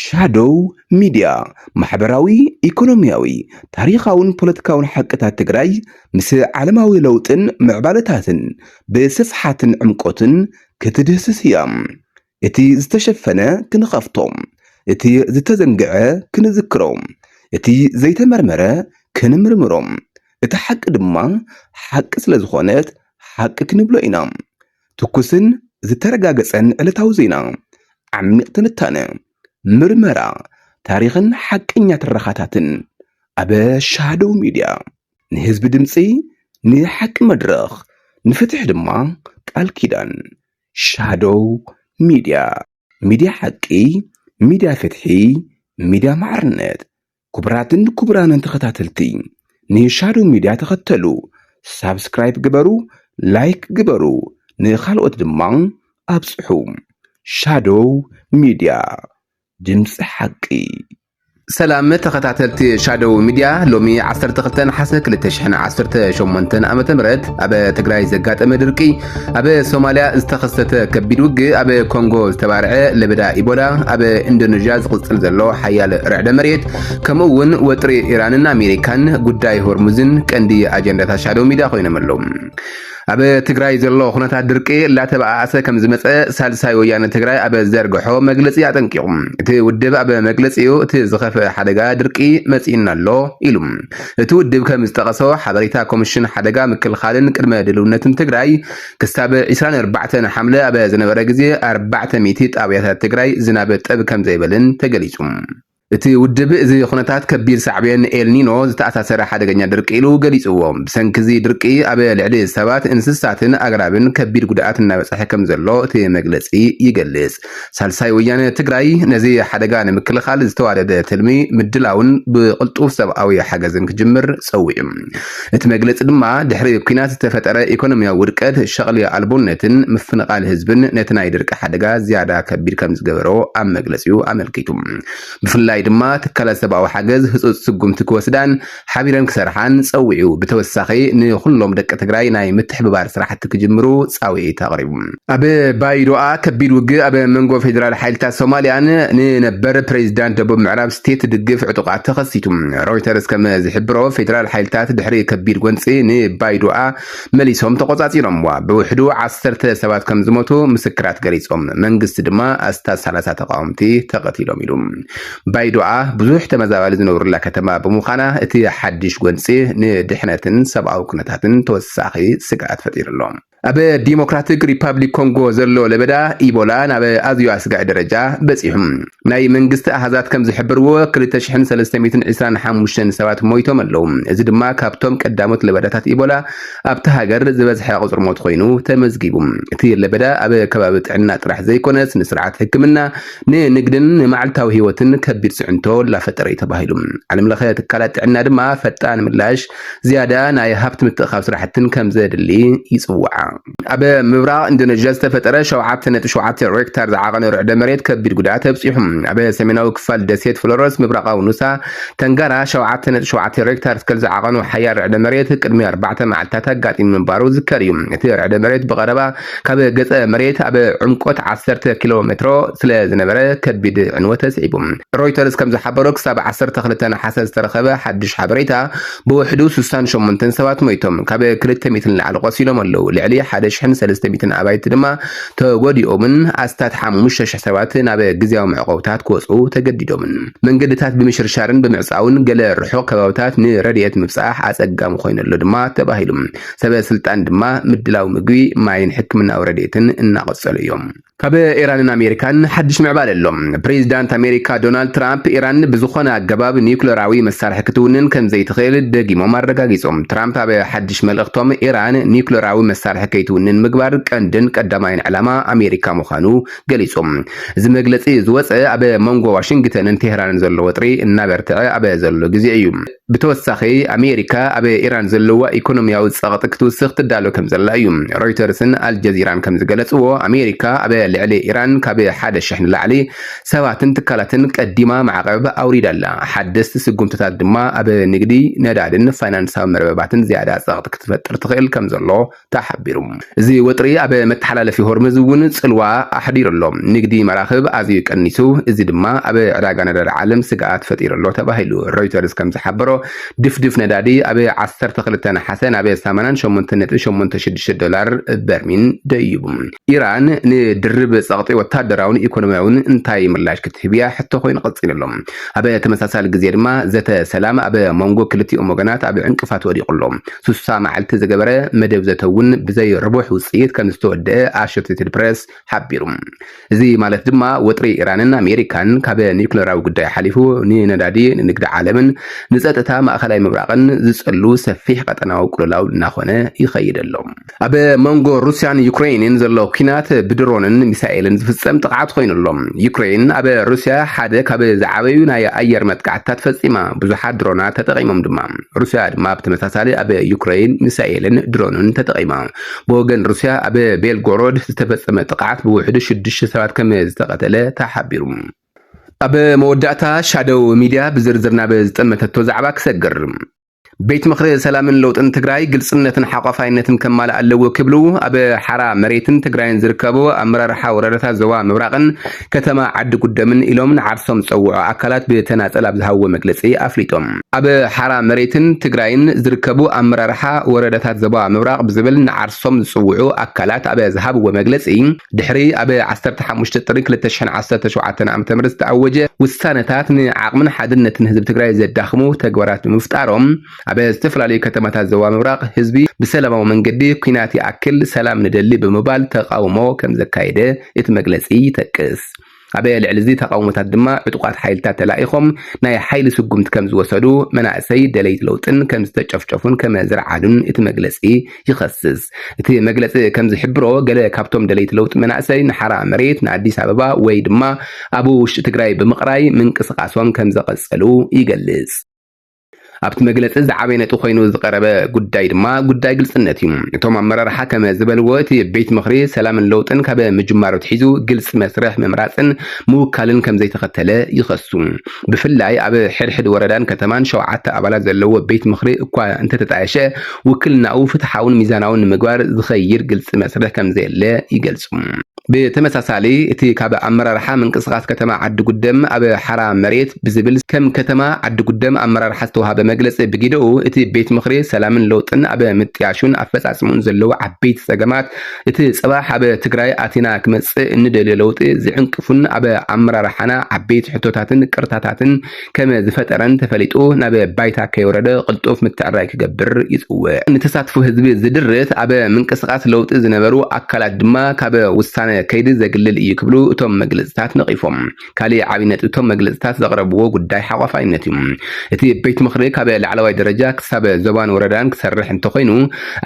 ሻዶው ሚድያ ማሕበራዊ፣ ኢኮኖሚያዊ፣ ታሪኻውን ፖለቲካውን ሓቅታት ትግራይ ምስ ዓለማዊ ለውጥን ምዕባለታትን ብስፍሓትን ዕምቆትን ክትድህስስ እያ። እቲ ዝተሸፈነ ክንኸፍቶ፣ እቲ ዝተዘንግዐ ክንዝክሮ፣ እቲ ዘይተመርመረ ክንምርምሮ፣ እቲ ሓቂ ድማ ሓቂ ስለዝኾነት ሓቂ ክንብሎ ኢና። ትኩስን ዝተረጋገፀን ዕለታዊ ዜና፣ ዓሚቕ ትንታነ፣ ምርመራ፣ ታሪኽን ሓቀኛ ትረኻታትን ኣብ ሻዶው ሚድያ። ንህዝቢ ድምፂ፣ ንሓቂ መድረኽ፣ ንፍትሒ ድማ ቃል ኪዳን። ሻዶው ሚድያ፣ ሚድያ ሓቂ፣ ሚድያ ፍትሒ፣ ሚድያ ማዕርነት። ኩቡራትን ኩቡራንን ተኸታተልቲ ንሻዶው ሚድያ ተኸተሉ ሳብስክራይብ ግበሩ ላይክ ግበሩ ንኻልኦት ድማ ኣብፅሑ ሻዶው ሚድያ ድምፂ ሓቂ። ሰላም ተኸታተልቲ ሻዶው ሚድያ ሎሚ ዓሰርተ ክልተ ነሓሰ ክልተ ሽሕን ዓሰርተ ሸሞንተን ዓመተ ምህረት ኣብ ትግራይ ዘጋጠመ ድርቂ ኣብ ሶማልያ ዝተኸሰተ ከቢድ ውግእ፣ ኣብ ኮንጎ ዝተባርዐ ለበዳ ኢቦላ፣ ኣብ ኢንዶነዥያ ዝቕጽል ዘሎ ሓያል ርዕደ መሬት፣ ከምኡ እውን ወጥሪ ኢራንን ኣሜሪካን ጉዳይ ሆርሙዝን ቀንዲ ኣጀንዳታት ሻዶ ሚድያ ኮይኖም ኣለዉ። ኣብ ትግራይ ዘሎ ኩነታት ድርቂ እላተበኣኣሰ ከም ዝመፀ ሳልሳይ ወያነ ትግራይ ኣብ ዘርግሖ መግለፂ ኣጠንቂቑ። እቲ ውድብ ኣብ መግለፂኡ እቲ ዝኸፍአ ሓደጋ ድርቂ መፂኡና ኣሎ ኢሉ። እቲ ውድብ ከምዝጠቐሶ፣ ሓበሬታ ኮሚሽን ሓደጋ ምክልኻልን ቅድመ ድልውነትን ትግራይ ክሳብ ዕስራን ኣርባዕተን ሓምለ ኣብ ዝነበረ ግዜ ኣርባዕተ ሚእቲ ጣብያታት ትግራይ ዝናብ ጠብ ከምዘይበለን ተገሊፁ። እቲ ውድብ እዚ ኩነታት ከቢድ ሳዕቤን ኤልኒኖ ዝተኣሳሰረ ሓደገኛ ድርቂ ኢሉ ገሊፅዎ። ብሰንኪ እዚ ድርቂ ኣብ ልዕሊ ሰባት፣ እንስሳትን ኣግራብን ከቢድ ጉድኣት እናበፀሐ ከምዘሎ እቲ መግለፂ ይገልፅ። ሳልሳይ ወያነ ትግራይ ነዚ ሓደጋ ንምክልኻል ዝተዋደደ ትልሚ ምድላውን ብቕልጡፍ ሰብኣዊ ሓገዝን ክጅምር ጸዊዑ። እቲ መግለጺ ድማ ድሕሪ ኲናት ዝተፈጠረ ኢኮኖሚያዊ ውድቀት፣ ሸቕሊ ኣልቦነትን ምፍንቓል ህዝብን ነቲ ናይ ድርቂ ሓደጋ ዝያዳ ከቢድ ከምዝገበሮ ኣብ መግለጺኡ ኣመልኪቱ። ብፍላይ ድማ ትካላት ሰብኣዊ ሓገዝ ህጹጽ ስጉምቲ ክወስዳን፣ ሓቢረን ክሰርሓን ፀዊዑ። ብተወሳኺ ንኹሎም ደቂ ትግራይ ናይ ምትሕብባር ስራሕቲ ክጅምሩ ፃውዒት ኣቕሪቡ። ኣብ ባይዶኣ ከቢድ ውግእ ኣብ መንጎ ፌደራል ሓይልታት ሶማሊያን ንነበር ፕሬዚዳንት ደቡብ ምዕራብ ስቴት ድግፍ ዕጡቓት ተኸሲቱ። ሮይተርስ ከም ዝሕብሮ ፌደራል ሓይልታት ድሕሪ ከቢድ ጎንፂ ንባይዶኣ መሊሶም ተቖፃፂሮምዋ። ብውሕዱ ዓሰርተ ሰባት ከም ዝሞቱ ምስክራት ገሊፆም። መንግስቲ ድማ ኣስታት ሰላሳ ተቓወምቲ ተቐቲሎም ኢሉ። ባይዶኣ ብዙሕ ተመዛባሊ ዝነብሩላ ከተማ ብምዃና እቲ ሓድሽ ጎንፂ ንድሕነትን ሰብኣዊ ኩነታትን ተወሳኺ ስግኣት ፈጢሩ ኣሎ። ኣብ ዲሞክራትክ ሪፓብሊክ ኮንጎ ዘሎ ለበዳ ኢቦላ ናብ ኣዝዩ ኣስጋኢ ደረጃ በፂሑ። ናይ መንግስቲ ኣሃዛት ከም ዝሕብርዎ ክልተ ሽሕን ሰለስተ ሚእትን ዕስራን ሓሙሽተን ሰባት ሞይቶም ኣለው። እዚ ድማ ካብቶም ቀዳሞት ለበዳታት ኢቦላ ኣብታ ሃገር ዝበዝሐ ቁፅሪ ሞት ኮይኑ ተመዝጊቡ። እቲ ለበዳ ኣብ ከባቢ ጥዕና ጥራሕ ዘይኮነስ ንስርዓት ሕክምና ንንግድን ንመዓልታዊ ህይወትን ከቢድ ፅዕንቶ ላፈጠረ እዩ ተባሂሉ። ዓለም ለኸ ትካላት ጥዕና ድማ ፈጣን ምላሽ፣ ዝያዳ ናይ ሃብቲ ምትእኻብ ስራሕቲን ከምዘድሊ ይፅውዓ። ኣብ ምብራቕ ኢንዶነዥያ ዝተፈጠረ ሸውዓተ ነጥቢ ሸውዓተ ሬክታር ዝዓቐነ ርዕደ መሬት ከቢድ ጉድኣት ኣብፂሑ። ኣብ ሰሜናዊ ክፋል ደሴት ፍሎረስ ምብራቓዊ ኑሳ ተንጋራ ሸውዓተ ነጥቢ ሸውዓተ ሬክታር ስከል ዝዓቐኑ ሓያል ርዕደ መሬት ቅድሚ ኣርባዕተ መዓልቲታት ኣጋጢሙ ምንባሩ ዝዝከር እዩ። እቲ ርዕደ መሬት ብቐረባ ካብ ገፀ መሬት ኣብ ዕምቆት ዓሰርተ ኪሎ ሜትሮ ስለ ዝነበረ ከቢድ ዕንወት ኣስዒቡ። ሮይተርስ ከም ዝሓበሮ ክሳብ ዓሰርተ ክልተ ነሓሰ ዝተረኸበ ሓድሽ ሓበሬታ ብውሕዱ ስሳን ሸሞንተን ሰባት ሞይቶም፣ ካብ ክልተ ሚእቲ ንላዕሊ ቆሲሎም ኣለው፣ ልዕሊ ሓደ ሽሕን ሰለስተ ሚእትን ኣባይቲ ድማ ተጎዲኦምን ኣስታት ሓሙሽተ ሽሕ ሰባት ናብ ግዝያዊ መዕቆብታት ክወፅኡ ተገዲዶምን። መንገድታት ብምሽርሻርን ብምዕፃውን ገለ ርሑቕ ከባብታት ንረድኤት ምብፃሕ ኣፀጋሚ ኮይኑ ኣሎ ድማ ተባሂሉ። ሰበ ስልጣን ድማ ምድላው ምግቢ፣ ማይን ሕክምናዊ ረድኤትን እናቐጸሉ እዮም። ካብ ኢራንን ኣሜሪካን ሓድሽ ምዕባለ ኣሎ። ፕሬዚዳንት ኣሜሪካ ዶናልድ ትራምፕ ኢራን ብዝኾነ ኣገባብ ኒዩክለራዊ መሳርሒ ክትውንን ከምዘይትኽእል ደጊሞም ኣረጋጊፆም። ትራምፕ ኣብ ሓድሽ መልእኽቶም ኢራን ኒዩክለራዊ መሳርሒ ከይትውንን ምግባር ቀንድን ቀዳማይን ዕላማ ኣሜሪካ ምዃኑ ገሊፆም። እዚ መግለፂ ዝወፀ ኣብ መንጎ ዋሽንግተንን ቴህራንን ዘሎ ወጥሪ እናበርትዐ ኣብ ዘሎ ግዜ እዩ። ብተወሳኺ ኣሜሪካ ኣብ ኢራን ዘለዋ ኢኮኖሚያዊ ጸቕጢ ክትውስኽ ትዳሎ ከምዘላ እዩ። ሮይተርስን ኣልጀዚራን ከምዝገለጽዎ፣ ኣሜሪካ ኣብ ልዕሊ ኢራን ካብ ሓደ ሽሕ ንላዕሊ ሰባትን ትካላትን ቀዲማ ማዕቐብ ኣውሪዳ ኣላ። ሓደስቲ ስጉምትታት ድማ ኣብ ንግዲ፣ ነዳዲን ፋይናንሳዊ መርበባትን ዝያዳ ጸቕጢ ክትፈጥር ትኽእል ከምዘሎ ተሓቢሩ። እዚ ወጥሪ ኣብ መተሓላለፊ ሆርምዝ እውን ፅልዋ ኣሕዲሩ ኣሎ። ንግዲ መራኽብ ኣዝዩ ቀኒሱ፣ እዚ ድማ ኣብ ዕዳጋ ነዳዲ ዓለም ስግኣት ፈጢሩ ኣሎ ተባሂሉ። ሮይተርስ ከምዝሓበሮ ድፍድፍ ነዳዲ ኣብ ዓሰርተ ክልተ ነሓሰ ናብ ሰማንያን ሸሞንተን ነጥቢ ሸሞንተ ሽዱሽተ ዶላር በርሚል ደይቡ። ኢራን ንድርብ ፀቕጢ ወታደራውን ኢኮኖሚያውን እንታይ ምላሽ ክትህብ እያ ሕቶ ኮይኑ ቀፂሉ ኣሎ። ኣብ ተመሳሳሊ ግዜ ድማ ዘተ ሰላም ኣብ መንጎ ክልቲኦም ወገናት ኣብ ዕንቅፋት ወዲቑ ኣሎ። ስሳ መዓልቲ ዝገበረ መደብ ዘተ እውን ብዘይ ርቡሕ ውጽኢት ከም ዝተወደኣ ኣሾትትድ ፕረስ ሓቢሩ። እዚ ማለት ድማ ወጥሪ ኢራንን ኣሜሪካን ካብ ኒዩክለራዊ ጉዳይ ሓሊፉ ንነዳዲ፣ ንንግዲ ዓለምን ንጸጥታ ማእከላይ ምብራቕን ዝጸሉ ሰፊሕ ቀጠናዊ ቅልውላው እናኾነ ይኸይድ ኣሎ። ኣብ መንጎ ሩስያን ዩክረይንን ዘሎ ኲናት ብድሮንን ሚሳኤልን ዝፍጸም ጥቕዓት ኮይኑ ኣሎ። ዩክረይን ኣብ ሩስያ ሓደ ካብ ዝዓበዩ ናይ ኣየር መጥቃዕትታት ፈጺማ፣ ብዙሓት ድሮናት ተጠቒሞም ድማ። ሩስያ ድማ ብተመሳሳሊ ኣብ ዩክረይን ሚሳኤልን ድሮንን ተጠቒማ። ብወገን ሩስያ ኣብ ቤልጎሮድ ዝተፈጸመ ጥቕዓት ብውሕዱ ሽዱሽተ ሰባት ከም ዝተቐተለ ተሓቢሩ። ኣብ መወዳእታ ሻዶው ሚድያ ብዝርዝር ናብ ዝጠመተቶ ዛዕባ ክሰግር። ቤት ምኽሪ ሰላምን ለውጥን ትግራይ ግልፅነትን ሓቋፋይነትን ከማልእ ኣለዎ ክብሉ ኣብ ሓራ መሬትን ትግራይን ዝርከቡ ኣመራርሓ ወረዳታት ዞባ ምብራቕን ከተማ ዓዲ ጉደምን ኢሎም ንዓርሶም ዝፀውዑ ኣካላት ብተናፀል ኣብ ዝሃብዎ መግለፂ ኣፍሊጦም። ኣብ ሓራ መሬትን ትግራይን ዝርከቡ ኣመራርሓ ወረዳታት ዞባ ምብራቕ ብዝብል ንዓርሶም ዝፅውዑ ኣካላት ኣብ ዝሃብዎ መግለፂ፣ ድሕሪ ኣብ ዓሰርተ ሓሙሽተ ጥሪ ክልተ ሽሕን ዓሰርተ ሸውዓተን ዓመተ ምህረት ዝተኣወጀ ውሳነታት ንዓቕምን ሓድነትን ህዝቢ ትግራይ ዘዳኽሙ ተግባራት ብምፍጣሮም ኣብ ዝተፈላለዩ ከተማታት ዞባ ምብራቕ ህዝቢ ብሰላማዊ መንገዲ ኲናት ይኣክል ሰላም ንደሊ ብምባል ተቓውሞ ከምዘካየደ እቲ መግለፂ ይጠቅስ። ኣብ ልዕሊ'ዚ ተቓውሞታት ድማ ዕጡቓት ሓይልታት ተላኢኾም ናይ ሓይሊ ስጉምቲ ከም ዝወሰዱ፣ መናእሰይ ደለይቲ ለውጥን ከም ዝተጨፍጨፉን ከመ ዝርዓዱን እቲ መግለጺ ይኸስስ። እቲ መግለጺ ከም ዝሕብሮ ገለ ካብቶም ደለይቲ ለውጢ መናእሰይ ንሓራ መሬት ንኣዲስ ኣበባ ወይ ድማ ኣብ ውሽጢ ትግራይ ብምቕራይ ምንቅስቓሶም ከም ዘቐጸሉ ይገልጽ። ኣብቲ መግለፂ ዝዓበየ ነጥቢ ኮይኑ ዝቐረበ ጉዳይ ድማ ጉዳይ ግልፅነት እዩ። እቶም ኣመራርሓ ከመ ዝበልዎ እቲ ቤት ምኽሪ ሰላምን ለውጥን ካበ ምጅማሩ ኣትሒዙ ግልፂ መስርሕ ምምራፅን ምውካልን ከምዘይተኸተለ ይኸሱ። ብፍላይ ኣብ ሕድሕድ ወረዳን ከተማን ሸውዓተ ኣባላት ዘለዎ ቤት ምኽሪ እኳ እንተተጣየሸ ውክልናኡ ፍትሓውን ሚዛናውን ንምግባር ዝኸይድ ግልፂ መስርሕ ከምዘየለ ይገልፁ። ብተመሳሳሊ እቲ ካብ ኣመራርሓ ምንቅስቓስ ከተማ ዓዲጉደም ኣብ ሓራ መሬት ብዝብል ከም ከተማ ዓዲጉደም ኣመራርሓ ዝተውሃበ መግለፂ ብጊደኡ እቲ ቤት ምኽሪ ሰላምን ለውጥን ኣብ ምጥያሹን ኣፈፃፅምኡን ዘለዉ ዓበይቲ ፀገማት እቲ ፅባሕ ኣብ ትግራይ ኣቲና ክመፅእ እንደልዮ ለውጢ ዝዕንቅፉን ኣብ ኣመራርሓና ዓበይቲ ሕቶታትን ቅርታታትን ከም ዝፈጠረን ተፈሊጡ ናብ ባይታ ከይወረደ ቅልጡፍ ምትዕርራይ ክገብር ይፅውዕ። ንተሳትፎ ህዝቢ ዝድርት፣ ኣብ ምንቅስቓስ ለውጢ ዝነበሩ ኣካላት ድማ ካብ ውሳነ ከይዲ ዘግልል እዩ ክብሉ እቶም መግለፅታት ነቒፎም። ካሊእ ዓብዪ ነጥቢ እቶም መግለፅታት ዘቕረብዎ ጉዳይ ሓቋፋይነት እዩ። እቲ ቤት ምኽሪ ካብ ላዕለዋይ ደረጃ ክሳብ ዞባን ወረዳን ክሰርሕ እንተኾይኑ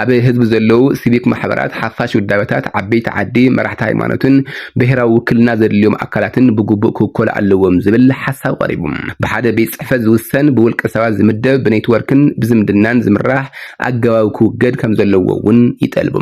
ኣብ ህዝቢ ዘለዉ ሲቪክ ማሕበራት፣ ሓፋሽ ውዳበታት፣ ዓበይቲ ዓዲ፣ መራሕቲ ሃይማኖትን ብሄራዊ ውክልና ዘድልዮም ኣካላትን ብግቡእ ክውከሉ ኣለዎም ዝብል ሓሳብ ቀሪቡ። ብሓደ ቤት ፅሕፈት ዝውሰን፣ ብውልቀ ሰባት ዝምደብ፣ ብኔትወርክን ብዝምድናን ዝምራሕ ኣገባብ ክውገድ ከምዘለዎ እውን ይጠልቡ።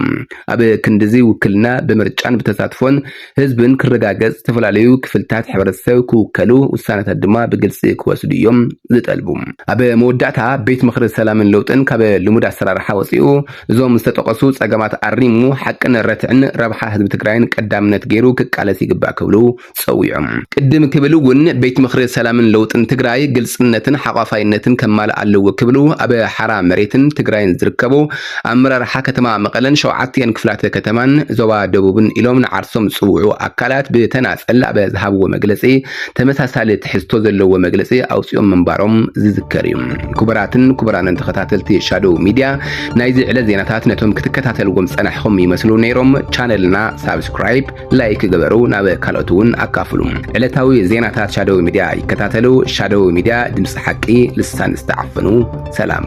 ኣብ ክንድዚ ውክልና ብምርጫን ብተሳትፎን ህዝብን ክረጋገፅ ዝተፈላለዩ ክፍልታት ሕብረተሰብ ክውከሉ ውሳነታት ድማ ብግልፂ ክወስዱ እዮም ዝጠልቡ። ኣብ መወዳእታ ቤት ምኽሪ ሰላምን ለውጥን ካብ ልሙድ ኣሰራርሓ ወፂኡ፣ እዞም ዝተጠቐሱ ፀገማት ኣሪሙ ሓቅን ረትዕን ረብሓ ህዝቢ ትግራይን ቀዳምነት ገይሩ ክቃለስ ይግባእ ክብሉ ፀዊዖም። ቅድም ክብል እውን ቤት ምኽሪ ሰላምን ለውጥን ትግራይ ግልፅነትን ሓቋፋይነትን ከማልእ ኣለዎ ክብሉ ኣብ ሓራ መሬትን ትግራይን ዝርከቡ ኣመራርሓ ከተማ መቐለን ሸውዓቲኣን ክፍላተ ከተማን ዞባ ደቡብን ኢሎም ንዓርሶም ዝፅውዑ ኣካላት ብተናፀል ኣብ ዝሃብዎ መግለፂ ተመሳሳሊ ትሕዝቶ ዘለዎ መግለጺ ኣውጺኦም ምንባሮም ዝዝከር እዩ። ክቡራትን ክቡራንን ተኸታተልቲ ሻዶው ሚድያ ናይዚ ዕለት ዜናታት ነቶም ክትከታተልዎም ዝጸናሕኹም ይመስሉ ነይሮም። ቻነልና ሳብስክራይብ፣ ላይክ ግበሩ፣ ናብ ካልኦት እውን ኣካፍሉ። ዕለታዊ ዜናታት ሻዶው ሚድያ ይከታተሉ። ሻዶው ሚድያ ድምጺ ሓቂ ልሳን ዝተዓፈኑ። ሰላም።